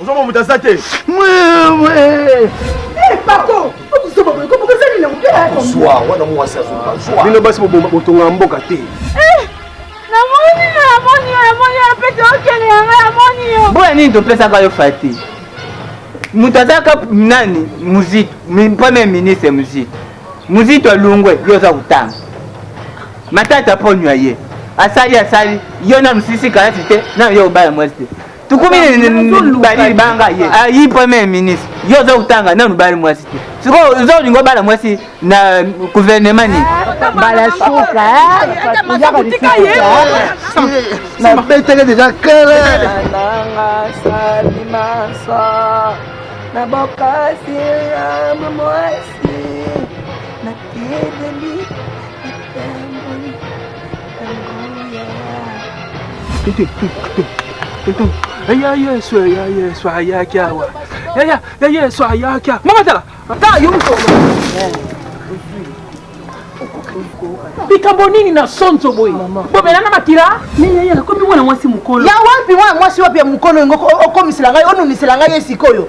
ozomona moto aza te bino basi botonga mboka te boya nini topesaka yo fati moto azalaka nani muzito premier ministre muzito Muzito alungwe yo oza kotanga matata ponyo ya ye asali asali yo nanu sisi kalasi te nanu yo obala mwasi te tukumi bali libanga ye ayi ah, premier ministre yo oza kotanga nanu bali mwasi te sikoyo oza kolinga obala mwasi na guvernema nini mbala suka nabeteke deja kele na bokasi ya mwasi ya yesu ya yesu ayaki awa yaya ya yesu ayaki awa mama tala tala yo moto likambo nini na sonzo boye bomela na makila akomi mwana mwasi mokolo ya wapi mwana mwasi wapi ya mokolo yango okomisela ngai onunisela ngai ye sikoyo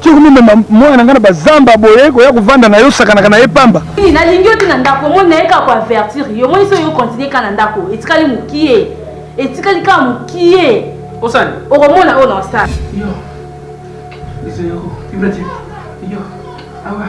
Ti okomemema mwana na ngai na bazamba boye koya kovanda na yo osakanaka na ye pamba. Nini nalingi yo te na ndako omoni naye kaka ko avertir yo omoni soki yo continue kaka na ndako etikali mokie etikali kaka mokie Osani. okomona oyo na osala. Yo. Izo yoko. Ibrati. Yo. Awa.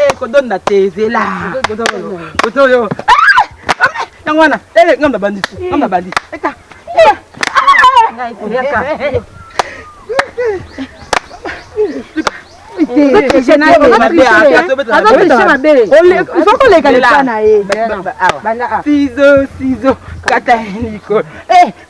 Eh, kodonda te zela kotoyo yango wana ngambo na bandisi ngambo na bandisi eta ngai koyaka ozokoleka leka na ye sizo sizo kata likolo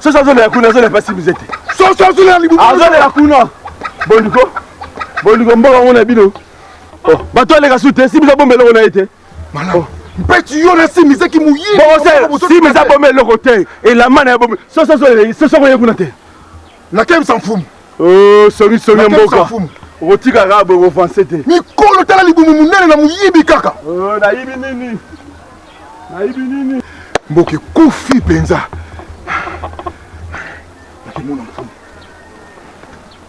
soso azolela kuna azolela mpasi mize te soso azolela kuna bondiko bondiko mboka ngo na bino Oh, bato aleka su te simiza bomba eloko na ye te oh. mpeti yo na simiza kimuyisimiza bomba eloko te elamba na ye bomba sosoko ye kuna te nakemisa mfumu oh, songisongi ya mboka okotika kaka boye kovanse te mikolo tala libumu monene na moyibi kaka nayibi nini nayibi nini mboka ekufi mpenza nakemona mfumu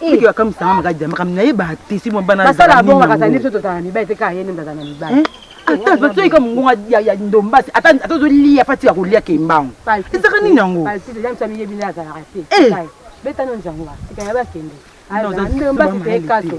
Biki bakamisa nga makadi makambo na ye batisi mwa bana basala abonga kata nde biso tozala mibali te kaka ye nde tozala na mibali eh? ata toyika mongonga ya ndombasi ata ozoliya pati ya kolia kembango ezaka nini yango miyebi nde azalaka te eh! betano nzango tika ya bakende ndombasi te ekaso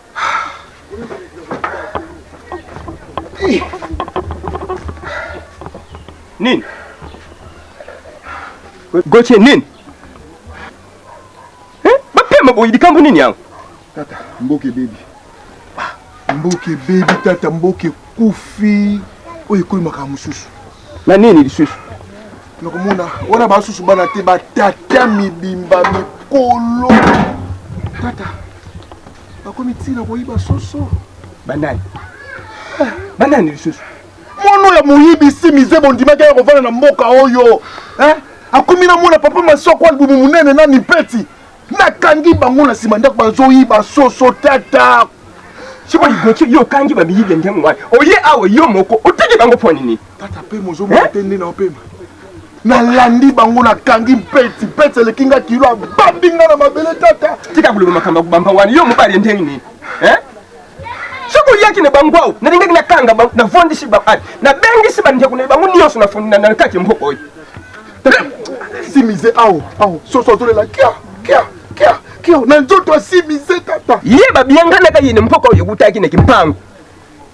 Nini? Goche nini? Eh? Bapema boyi likambo nini yango? Tata, mboke bebi. Mboke bebi tata, mboke kufi. Oyo ekomi makambo mosusu. na nini lisusu nakomona wana basusu bana te batata mibimba mikolo tata bakomi ntina koyiba soso banani ah. banani lisusu mono ya moyibi si mize bondimaki ya kovanda na mboka oyo akomi na mona papa masoko albumu monene na mipeti nakangi bango na nsima ndako bazoyiba soso tata siko ligoki yo okangi bamiyibi ya ndenge wana oye awa yo moko otiki bango mpo nini tata mpe mozomona te nde naopema nalandi bango nakangi mpeti mpeti eleki nga kilo abambi nga na mabele tata tika koloba makambo ya kobamba wana yo mobali ya ndenge nini soki oyaki na bango awa nalingaki nakanga bango navandisi bango ah, nabengisi bandeko na bango nyonso na kati ya mboka oyo simize awa awa soso azolela kia kia kia kia na nzoto asimize tata ye babianganaka ye na mboka oyo ekutaki na kimpangu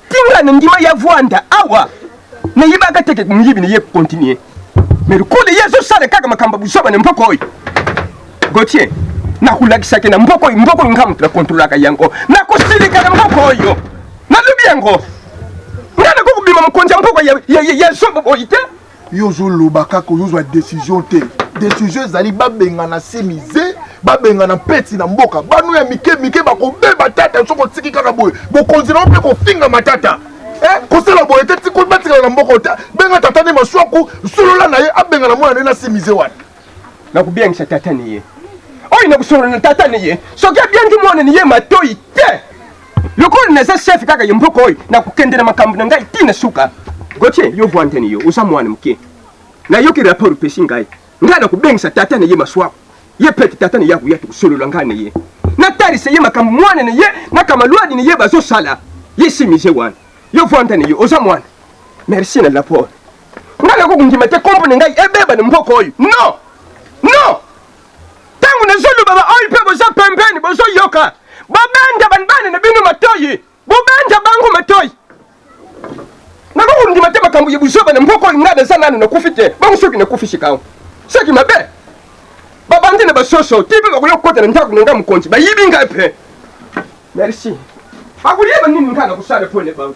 tinga na ndima ya vwanda awa na yebaka te ke moyibi na ye continue mais lokola ye azosala kaka makambo buzoba na mboka oyo gotie nakolakisaki na mboka oyo mboka oyo nga moto nakontrolaka yango nakosilika na mboka oyo nalobi yango nga nakoki kobima mokonzi ya mboka ya zoba boyi te yo ozoloba kaka ozozwa decision te decision ezali babengana semize babengana mpeti na mboka bano ya mike mike bakobeba tata soki otiki kaka boye bokonzi nao mpe kofinga matata Eh, kosala boye te tiko batikala na mboka te benga tata nde maswaku solola na ye abengana mwana nde nasimize wana nakobengisa tata ni ye oyo nakosolola na tata ni ye soki abiangi mwana ni ye matoi te lokola naza chef kaka ye mboka oyo nakokende na makambo na ngai ti na suka gotie yo vwantani yo oza mwana moke nayoki rapport opesi ngai Ngai nakobengisa tata na ye Masuaku, ye pete tata na ye akoya, tokosolola ngai na ye, natalisa ye makambo mwana na ye na kamaluadi na ye bazosala ye. Si mize wana yo vanda na yo oza mwana merci na lapore. Ngai nakokondima te kombo na ngai ebeba na mboka oyo non non. Tango nazoloba ba oyo pe boza pembeni bozoyoka bobenda ba bana na bino matoyi. Bobanja bango matoyi. Nako kondima te makambo ya buzoba na mboka oyo ngai naza nanu nakufi te. Bongo soki nakufi sikawa? Soki mabe. Babandi na basoso ti pe bakoya kokota na ndako na ngai mokonzi. Bayibi ngai pe. Merci. Bakoyeba nini ngai nakosala po na bango.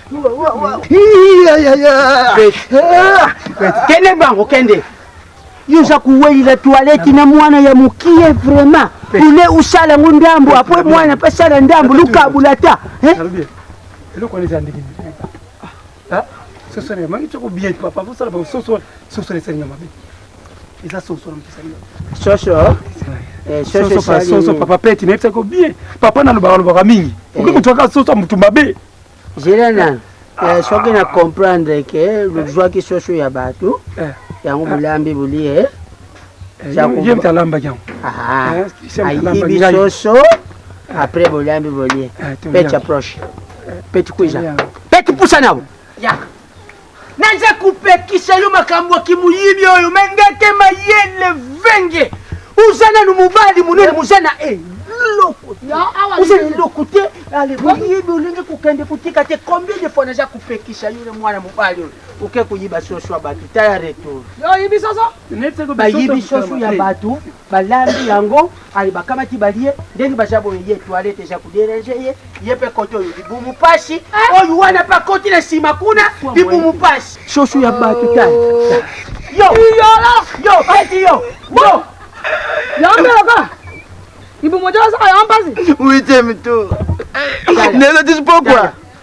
kende bango kende yoza kuwelela toilette na mwana ya mukie vraiment ule usala ngo ndambo apwe mwana pe sala ndambo lukabula ta eh? eloko wana eza ndenge ah, sosole mangi toko bien papa bosala basosole sosole esali nga mabe eza sosole mopesali soso Eh, soso papa peti nayebisaki yo bien papa nalobaka lobaka mingi eh. okoki kotwaka soso ya motu mabe Zela nanu. Eh, soki na comprendre ke lozwaki soso ya bato eh. yango bolambi bolie eh. ayibi soso après bolambi bolie peti approche peti kuiza peti pusa nabo Naza kopekisa yo makambo ya kimuyibi oyo me ndeke mayele venge oza nanu mobali monene moza na e loko oza na eloko te moyibi olingi kokende kotika te combien de fois naza kopekisa yo na mwana mobali oyo oke koyiba soso ya bato taya retour bayibi soso ya bato balambi yango Aye bakamati balie ndenge baza boye ye toilette eza ko derange ye ye pe kote oyo libumu pasi oyo wana pe akoti na sima kuna libumu pasi soso ya batu ta yo iyolo yo keti yo yo yambelaka libumu ojo asaka yo mpasi huitième tour nelo tisi pokwa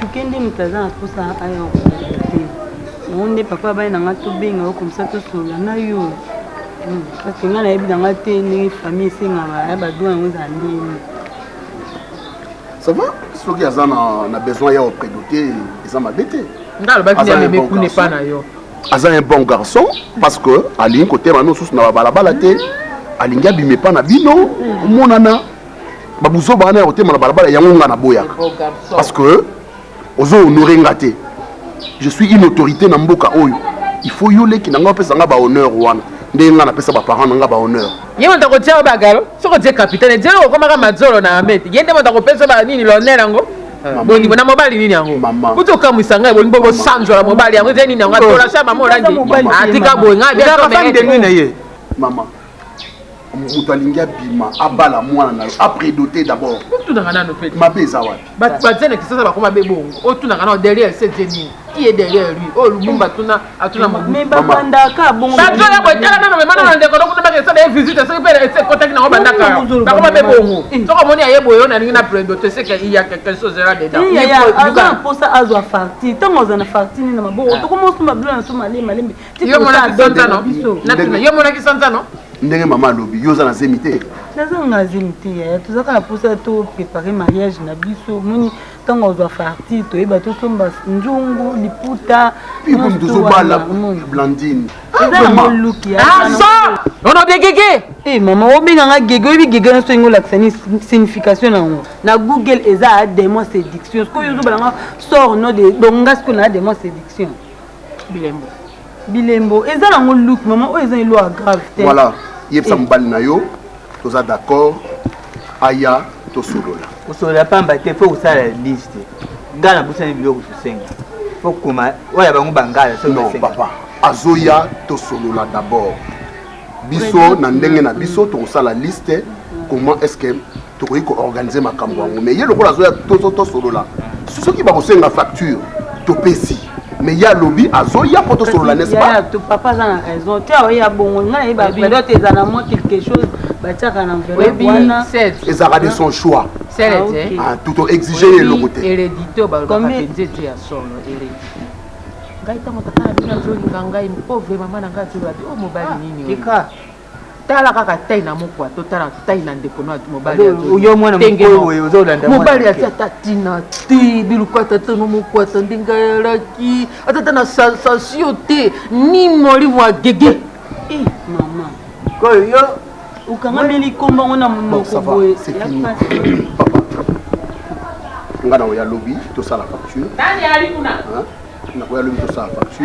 Chuke nde moto aza na posa aya okoloba te yango nde papa ya bana na ngai tobenga yo komisa tosolola na yo hmm, parce ngai nayebi na ngai te ndenge famille esengaka ya badroit yango ezala ndenge ça va soki aza na besoin ya opredo te eza mabe te ngai alobaki nde ameme kuna epa na yo aza un bon garçon parce que alingi kotema no susu na babalabala te alingi abima epa na bino omonana babuzoba wana ya kotema na balabala yango nga naboyaka parce que ozo honore nga te je suis une autorité na mboka oyo il faut yo leki na nga opesa nga bahonneur wana ndenge nga napesa baparent na nga bahonneur ye moto akotia yo bagalo soki otie kapitale je okomaka mazolo na amete ye nde moto akopesa ba nini lonel yango ah. bolingo na mobali nini yango kuti okamwisa ngai bolingo bosanzola mobali yango eza nini yango atolasha mama olandi atika boye ngai biaomee na ye mama moto alingi abima abala mwana na yo apredote d'abord otunaka nano pe mabe eza wapi bato baza na kisasa bakoma be bongo otunaka nano derrière se tie nini qui est derrière lui oyo oh, lumumba atuna atuna mobandaka bongobazoya kotala nano mema nano ndeko nokuna baka esala ye visite soki mpe ekotaki nango bandaka bakoma be bongo eh. soki omoni aye boye oyo nalingi na predote seke iya quelque chose ela dedanaza na mposa azwa farti ntango aza na farti nini na maboko ah. tokomosomba bilo na so malembe malembe yo monaki sanzano natuna yo monaki sanzano ndenge mama alobi yo oza na zemi te nazanga zemi te yaya tozalaka na mposa to prépare mariage na biso moni ntango azwa farti toyeba tosomba nzungu liputa piponi tozobala blandine ono degege e mama obenga nga gege oyebi gege nyonso ndenge olakisa ni signification na yango na google eza demon séduction sikoyo ozobala nga sort no de donc nga sikoyo na demon séduction bilembo bilembo eza nango look mama oyo eza eloko ya grave te voilà yebisa eh. mobali na yo toza d'accord aya tosolola kosolola pamba te fo kosala liste ngai nabosani biloko tosenga fo koma oyo ya bango bangala non papa azoya tosolola d'abord biso na ndenge na biso tokosala liste comment est ce que tokoki ko organiser makambo yango mais ye lokola azoya tozo tosolola soki bakosenga facture topesi mais ye alobi azoya mpo tosolola n'est-ce pas papa aza na raison te aoya bongo nga nayebi bapedote eza na mwa quelque chose batiaka na enveloppe wana ezalaka de son choix tuto exige ye eloko te heredité balobaka mpenza ete ya solo heredité ngai ntango tata na bino azolinga ngai pauvre mama na ngai azoloba te o mobali nini Tala kaka taille na mokwa to tala taille na ndeko na mobali ya Jody. Yo mwana mokolo boye ozo landa mwana. Mobali ati ata tina ti biluka ata to no mokwa ta ndinga ya laki ata ta na sensation te ni moli mwa gege. Eh maman. Ko yo okangameli komba ngo na monoko boye. Papa. Nga na oya lobi to sala facture. Nani ali kuna? Na oya lobi to sala facture.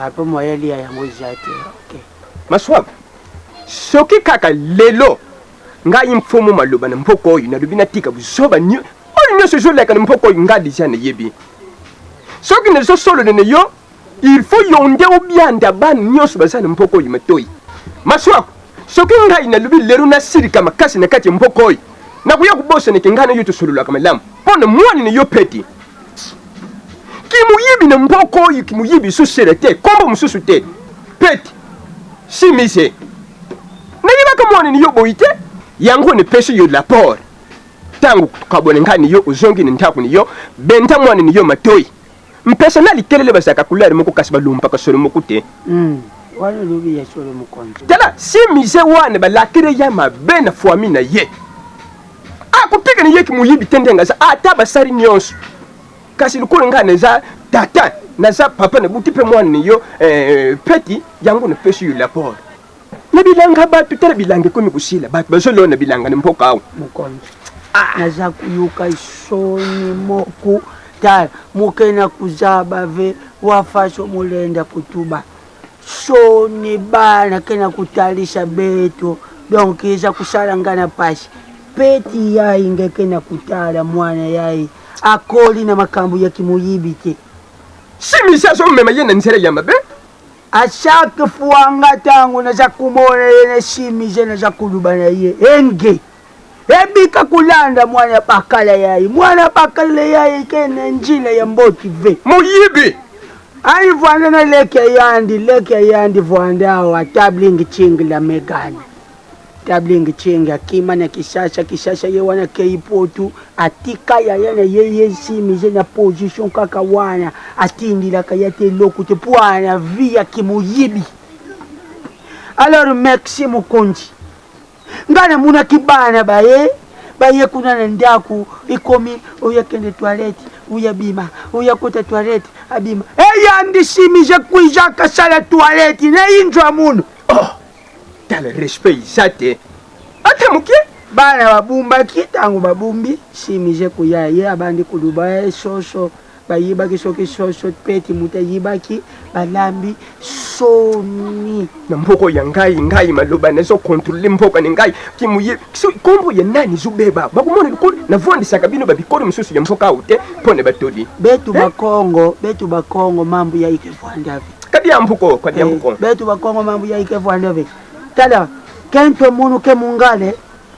Ah, po moyen alia yango eza te. Ok. Maswab, soki kaka lelo ngai mfumu maloba na mboka oyo nalobi natika buzoba nyo oyo nyonso ezoleka na mboka oyo ngai deja nayebi soki nazosolola na yo il faut yo nde obianda bana nyonso baza na mboka oyo matoi maswako soki ngai nalobi lelo nasilika makasi na kati ya mboka oyo nakoya kobosaneke ngai na yo tosololaka malamu mpo na mwana na yo peti Kimoyibi na mboko oyo kimoyibi sous sele te kombo mususu te pete simise nayebaka mwana ni yo boyi te yango ne pesi yo la port tango kabone ngai ni yo ozongi na ndako ni yo benda mwana ni yo matoyi mpesa na likelele bazalaka couleur moko kasi balumbaka solo moko te mm. wana olobi ya solo mokonzi tala simise wana balakele ya mabe na fwami na ye akoteka na yeki moyibi te ndenge aza ata basali nyonso kasi lokola ngai naza tata naza papa nabuti mpe mwana na yo eh, peti yango napesi yo laport na bilanga bato tala bilanga ekomi kosila bato bazolona na bilanga na mboka awa mokonzi ah. naza koyoka soni moko tala mokena kuzaba ve wafasho molenda kotuba Soni bana kenda kotalisa beto donc eza kosala nga na pasi peti yaye nga kenda kotala muana yaye akoli na makambu ya kimoyibi te. Simisi azomema ye na nzela ya mabe. A chaque fois nga tango naza komona ye na Simise naza koloba na ye enge. Ebika kolanda mwana bakala yaye mwana bakala yaye kene njila ya mboti ve. Moyibi. Ayi vwanda na leki ya yandi leki ya yandi vwanda awa tabling ching la megane. Tabling ching akima na kisasa kisasa ye wana keyi potu atika yaya na ye ye simize na position kaka wana atindilaka ya te loku te pwana vi ya kimoyibi. Alors Maxi Mokonzi Nga na monaki bana baye baye kuna na ndaku ekomi oya kende toilette oya bima oya kota toilette abima eya ndishimi je kuija kasala toilette na injwa munu oh, tala respect iza te ata moke bana babumbaki ntango babumbi shimi je kuya ye abandi koluba ye shosho Bayebaki soki soso pe kimuta ayibaki balambi soni. Na mboko ya ngai ngai maloba na zo controle mboka na ngai kimuye so kombo ya nani zo beba bakomona likolo na vwandisaka bino ba bikolo mosusu ya mboka awo te mpo na batoli betu ba Congo betu ba Congo mambu ya ike vwandavi kadi ya mbuko kadi ya mbuko betu ba Congo mambu ya ike vwandavi tala kento munu ke mungale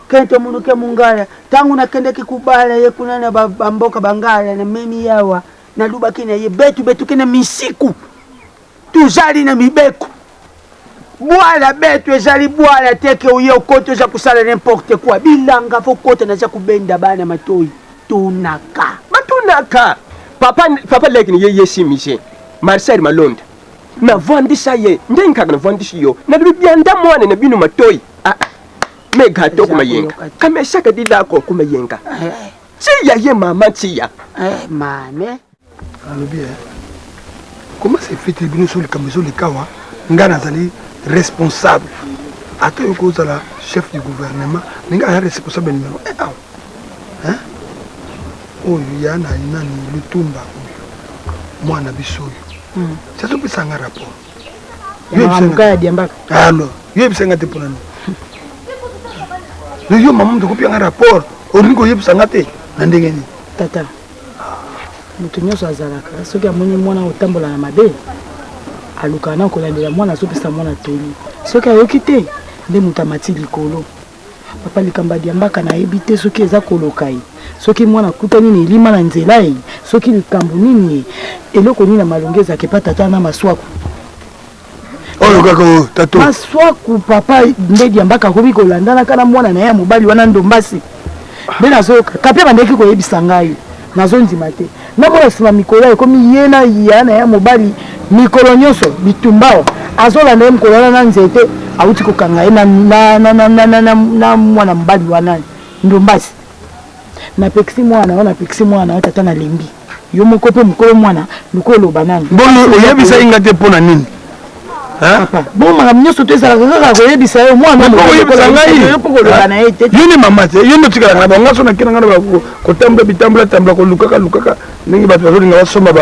Kento munuke mungala tangu na kendeki kubala ye kuna na ba mboka bangala na memi yawa na lubaki na ye betu betu kena misiku tuzali na mibeko bwala betu ezali bwala teke oye okoti oza kusala n'importe quoi bilanga fo kota naza kubenda bana matoyi tunaka batunaka papa papa leki ni ye ye si mise marcel malonda na vwandisa ye nde nkaka na vwandisi yo na lubianda mwana na bino matoyi ah, ah. Me gato kuma yenga. Kame shaka di lako kuma yenga. Tia ye mama tia. Eh mame. Alobi eh. Comment c'est fait que bino sur le camiso le kawa nga nazali responsable. Ata yo kozala chef du gouvernement, mais nga ya responsable numéro 1 awa. Hein? Oyo ya na nani lutumba oyo. Mwana biso oyo. Hmm. Sasa pesa nga rapport. yebisa nga te mpona nini yo yo mama moto kopia nga rapport olingi koyebisa nga te na ndenge nini tata moto nyonso azalaka soki amoni mwana otambola na mabe alukaka na kolandela mwana azopesa mwana toli soki ayoki te nde moto amati likolo papa likambo ya diambaka nayebi te soki eza koloka ye soki mwana akutani na elima na nzela ye soki likambo nini ye eloko nini ya malongi ezalaka epa tata na maswaku oyo kaka oyo tato maswaku papa nde diambaka akomi kolandanaka na mwana na ye ya mobali wana ndombasi nde nazoyoka kape bandeki koyebisa ngai Nazo ndima te na mona sima mikolo ekomi ye na ya na ya mobali mikolo nyonso bitumbao azolanda ye mokolo wana na nzete awuti kokanga ye na mwana mobali wana ndombasi napekisi mwana yo napekisi mwana yo tata nalembi yo moko mpe mokolo mwana lokola oloba nani boye oyebisaki nga te mpo na nini bongo makambo nyonso to ezalaka kaka koyebisa yo mwanaoyebisa ngai yo nde mama te yo nde otikalaka na bango so nakena ngai na kotambola bitambola tambola kolukaka lukaka ndenge bato bazolinga basomba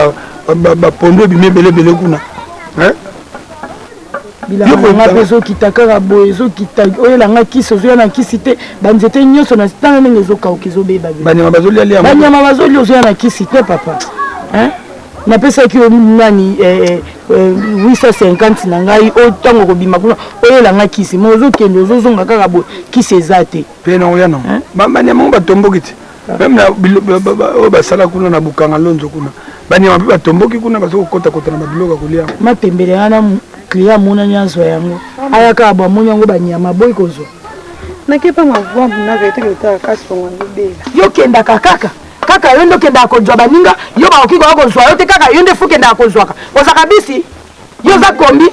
bapondo ebimi ebele ebele kuna bilanga mpe ezokita kaka boye ezokita oyela nga kisi ozoya na kisi te banzete nyonso na tanga ndenge ezokauka ezobeba banyama bazolia ozoya na kisi te papa napesaki yo nani eh, eh, eh, 850 na ngai oyo ntango okobima kuna oyela ngai kisi ma ozokende ozozonga kaka boye kisi eza te mpe naoya nango banyama yango batomboki te meme na oyo basala kuna na bukanga lonzo kuna banyama mpe batomboki kuna baza kokotakota na babiloko ya kolia matembele wana client amonani azwa yango ayaka abo amoni yango banyama boyi kozwa nakepanga vua muna vete lotaka kasi tongo alobela yokendaka kaka Kaka yo nde okendaka kozwa baninga yo bakoki koya kozwa yo te kaka yo nde fo okendaka kozwaka ozaka bisi yo oza kombi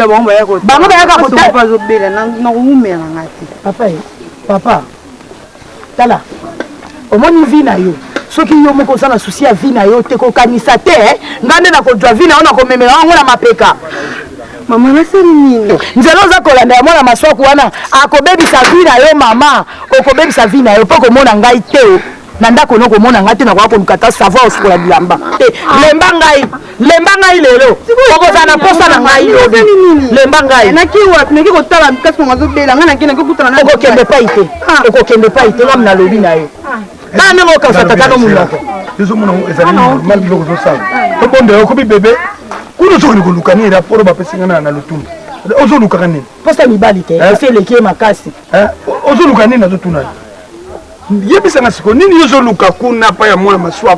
bango bayaka kotaomelanga te papa eh, papa tala omoni vi na yo soki yo moko oza na susi ya vi na yo te kokanisa te eh. ngai nde nakozwa vi na yo nakomemela yango na mapeka mama nasali nini nzela oza kolanda ya mwana maswaku wana akobebisa vi na yo mama okobebisa vi na yo mpo komona ngai te na ndako no komona ngai te nakoya koluka ata savoir osukola bilamba te lemba ngai lemba ngai lelo okozala na mposa na ngai lobi lemba ngai okokende epai te okokende epai te ngam nalobi na yo bana ndenge okausa tata no monoko ezomona ngo ezali normal biloko ozosala tobonda yo okomi bebe kuna ozokende koluka nini raporo bapesi nga na lotumbu ozolukaka nini posa mibali te esi eleki ye makasi ozoluka nini nazotuna yebisanga siko nini yo ozoluka kuna pa ya mwana maswa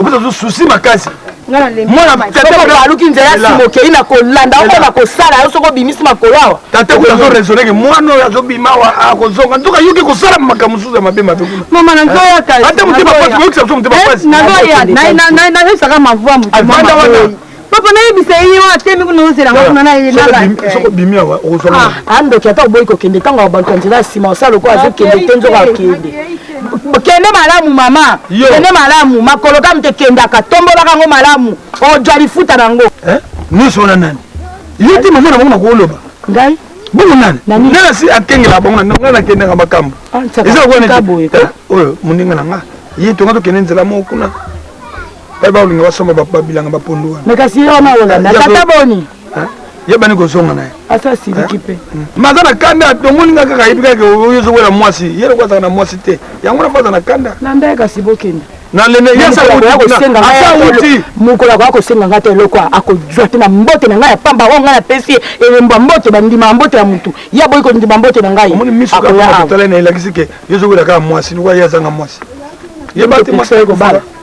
opesa zo susi makasi aluki nzela nsima okei na kolanda oko na kosala yo soki obimisi makolo awa tata kuna azo raisonne ke mwana oyo azobima awa akozonga nzoka yoki kosala makambo mosusu ya mabe mabe kuna mama nazoyaka ata motema pasi oyokisa biso motema pasi nazoya nayebisaka mavua motemavanda wana papa nayebisa ye wana temi kuna ozela nga kuna nayebisokobimi awa okozwa andoki ata oboyi kokende ntango bato ya nzela ya nsima osala lokola azokende te nzoka akende kende malamu mama kende malamu makolo kam te kendaka tombolaka yango malamu ojwa lifuta na yango eh? nyonso wana nani yo te mama na bango nakoloba ngai bongo nani nani asi akengela bango na ngai nakendaka makambo ah, eza lokola eh, oyo moninga na nga ye tonga tokende nzela moko kuna bai bakolinga basomba babilanga bapondu wana me kasi ye wana olanda tata boni yebani kozonga na ye asa asiliki mpe hmm. maza na kanda tomoni nga kaka yebi kaka oyo ozowela mwasi ye loko azalaka na mwasi te yango napo aza na kanda landa ye kasi bokende mokolo akoya kosenga ngai te eloko akozwa te na mbote na ngai ya pamba oyo ngai napesi elembo ya mbote bandima ya mbote ya motu ye aboyi kondima mbote na ngai elakisi ke yo ozowela kaka mwasi lokola ye azanga mwasi yebati mwasi aye kobala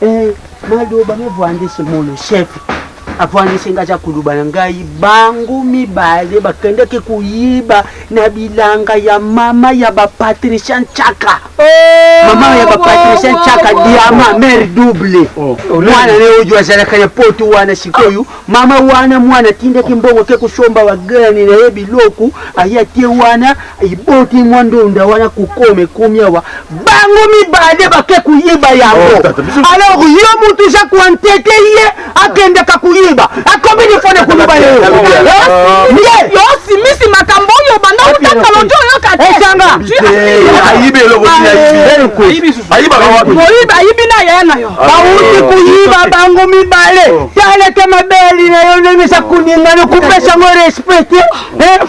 Eh, maloba mevwandisi mono chef avwandisi nga aza koloba na ngai bango mibale bakendaki koyiba na bilanga ya mama ya bapatricia nchaka oh, mama ya bapatricia oh, oh, nchaka oh, diama oh, mare double oh, oh, mwana ne oyo azalaka na potu wana sikoyo oh. mama wana mwana atindaki mbongo ke kosomba bagrani na ye biloko aye atie wana Eboti mwa ndonda wana kukoma ekomi awa bango mibale bake koyeba yango oh, alors yo mutu oza koantete ye akendaka koyeba akomi defo na koloba ye yosimisi makambo oyo banda otaka lojo oyoka teoyiba ayibi na yaya na yo ah, bawuti oh. koyiba bango mibale oh. taleke mabeli na yo ndenge eza koningana kopesa yango respecte eh,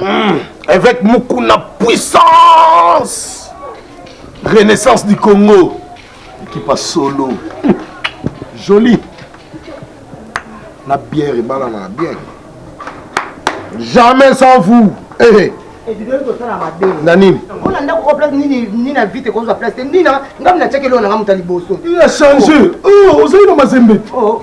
Mmh, évêque Mukuna puissance Renaissance du Congo qui passe solo joli na bière ebala na bière jamais sans vous hey. Eh, eh. ebibeli kosala mabe na nini mpona ndako ko place nini nina vite ekozwa place te nina ngai natiaki eloko na ngai moto ya liboso ya change ozali na mazembe oh.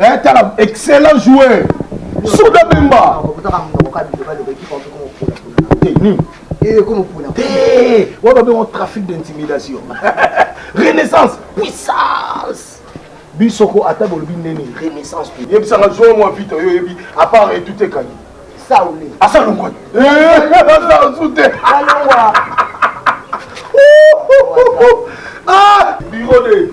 Eh, tala excellent joueur soda bemba oyo babengo trafic d'intimidation renaissance puissance biso ko ata bolobi ndeni renaissance yebisanga joueur mwa vite oyo oyebi apart etutekani saule asalongwa asasu te alongwa biro de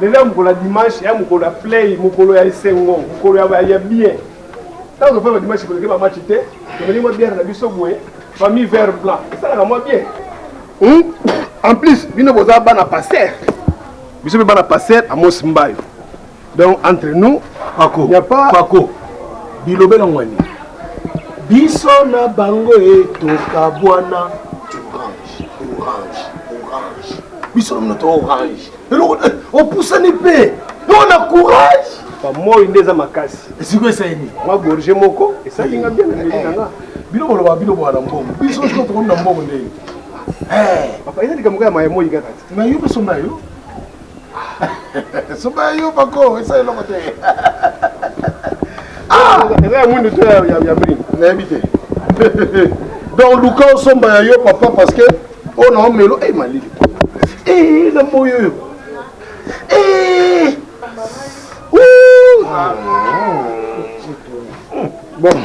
Lelo ya mokolo ya dimanche, ya mokolo ya play, mokolo ya esengo, mokolo ya ba ya bien. Tango tofanda dimanche koleke ba match te, tomeli mwa bière na biso boye, famille vert blanc. Esalaka mwa bien. Hum? En plus, bino boza bana pasteur. Biso pe bana pasteur Amos Mbayo. Donc entre nous, Paco, y a pas Paco. Bilobela ngwani. Biso na bango etoka bwana orange, orange, orange. Biso na to orange. Eloko eh, opusani pe. Yo na courage. Ba moi nde eza makasi. Esiko esaini. Mwa gorge moko esali nga bien na meli na nga. Bino boloba bino bwana mbongo. Biso siko tokomi na mbongo ndenge. Eh, papa eza likambo ya maye moi kaka. Na yo biso na yo. soba ya yo bako esa eloko te ah! eza ya mwindu to ya brin nayebi te donc luka osomba ya yo papa parce que oyo na omelo e malili e na moyi oyo e bon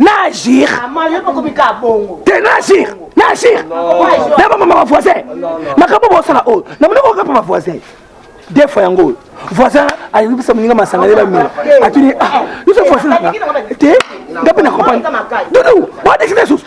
na agir te na agir na agir na bamama ba voisin makambo bosala oyo na monoko okapa ba voisin de fois yango oyo voisin ayebisa moninga masanga nde bamela atuni ah, yoso voisin nanga te nga mpe na comprendre dudu baodekisa lisusu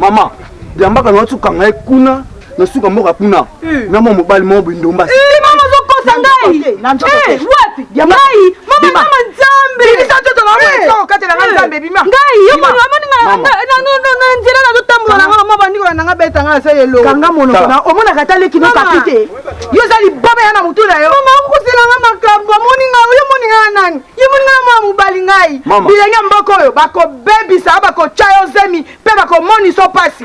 Maman, diambaka na watu kanga ye kuna na suka mboka kuna. eh. na mwa mobali moko bindumba eh, mama ozokosa ngai eh, wapi ngai mama mama nzambe ngai yo mono amoni na nzela nazotambola na ngai mama nikola nanga beta ngai asa yelo kanga monoko na omonaka ata leki no kapi te yo oza libaba ya na motu na yo mama okosela ngai makambo amoni ngai yo moni ngai nani yo moni ngai mwa mobali ngai bilenge mboka oyo bakobebisa bakotya yo zemi mpe bakomonisa mpasi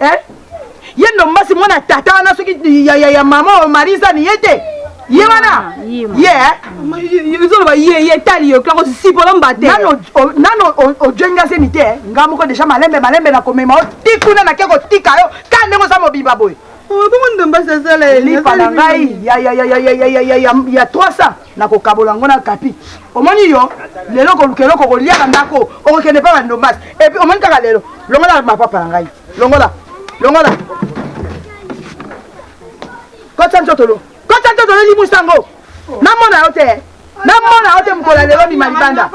eh? ye ndombasi mwana tata wana soki ya, ya, ya mama oyo marisa ni ye te ye wana ye ezoloba ye ye etali yo kaka osipolo mbate nano ojenga zemi te eh? nga moko deja malembe malembe na komema o ti kuna nake kotika yo ka ndenge oza mobimba boye bongo ndombasi asala elipa na ngai ya 300 Nakokabola yango na Kapi. Omoni yo, lelo okoluka eloko okolia na ndako, okokende epai ya ba Ndombas. Et puis omoni kaka lelo, longola mapapa na ngai. Longola. Longola. Kotisa ntotolo. Kotisa ntotolo limusa yango. Namona yo te. Namona yo te mokolo ya lelo bima libanda.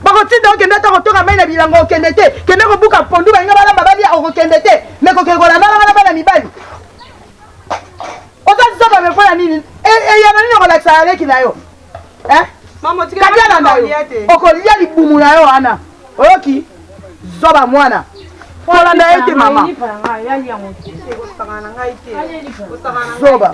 bakotinda okende ata kotoka mai na bilango okende te kende kobuka mpondu balinga balamba balia okokende te me kokende kolandalanga na bana mibali Oza zoba me pona nini? Eyano nini okolakisa na leki na yo? Eh? Kati alanda yo. Okolia libumu na yo wana. Oyoki? Zoba mwana. Olanda ye te mama. Zoba. Zoba.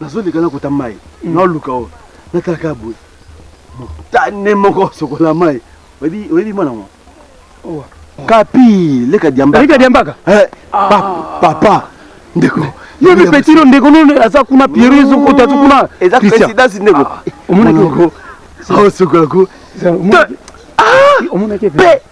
nazoleka nakota mai mm. naoluka oyo natalaka boye motane moko sokola mai oyebi mwana mwa kapi leka diambakaleka diambaka eh, ah. papa ndeko yebi petino ndeko no aza kuna piero ezokota aza kuna eza présidence ndeko ah, omonaki osokolako omonaki pe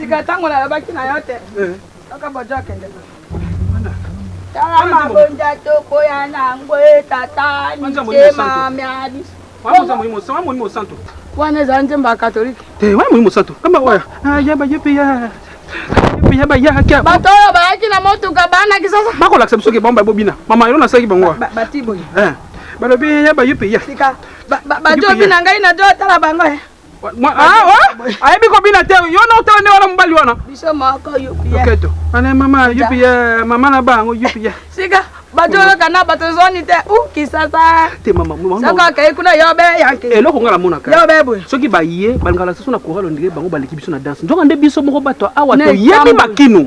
sika ntango nalobaki na yo te kaka bojo akende tala mabonja tokoya na yango etata mitema mya biso wana eza nzembo ya katolike eh, wana moyi mosantu kamba oya ah, yaba ye mpe ya ya bayaka bato oyo bayaki na motuka banaki sasa bakolakisa biso ke bango babobina mama elo nasalaki bango bati boye eh, balobi ya bayo mpe ya bato obina ngai na to otala bango eh. ah, oh, ayebi kobina te yo na otala nde wana mobali wana biso moko yupiyeketo ane mama yupiye mama na bango yupiye sika bato oyoka na bato zoni te u kisasa te mama soko akei kuna yobe yanke eloko ngai namonaka yobe boye soki baye balingaka lisusu na koralo ndenge bango baleki biso na danse nzoka nde biso moko bato awa toyebi makino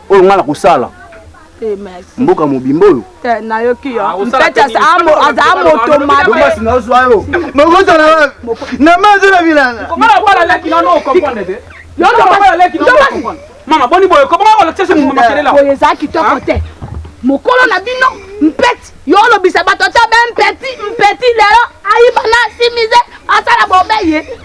oyo ngai nakosala eh, mboka mobimba oyo eh, nayoki yo ah, mpetasi aza moto mabemasi nazwa yo mokozala na mazo na bilanga mama boni boye kobonga kolakisa moto makelela boye eza kitoko te mokolo na bino mpeti yo olobisa bato ata be mpeti mpeti lelo ayiba na simize asala bobe ye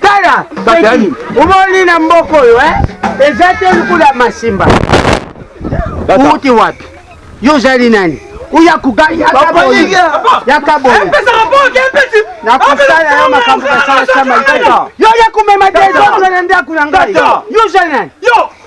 Tala peki umoni na mboka oyo eh? eza te lukula masimba uti wapi yo ozali nani uya kugayaboyi yakaboyi nakosala yo makambo kasala sama yo ya kumema desordre na ndako na ngai yo ozali nani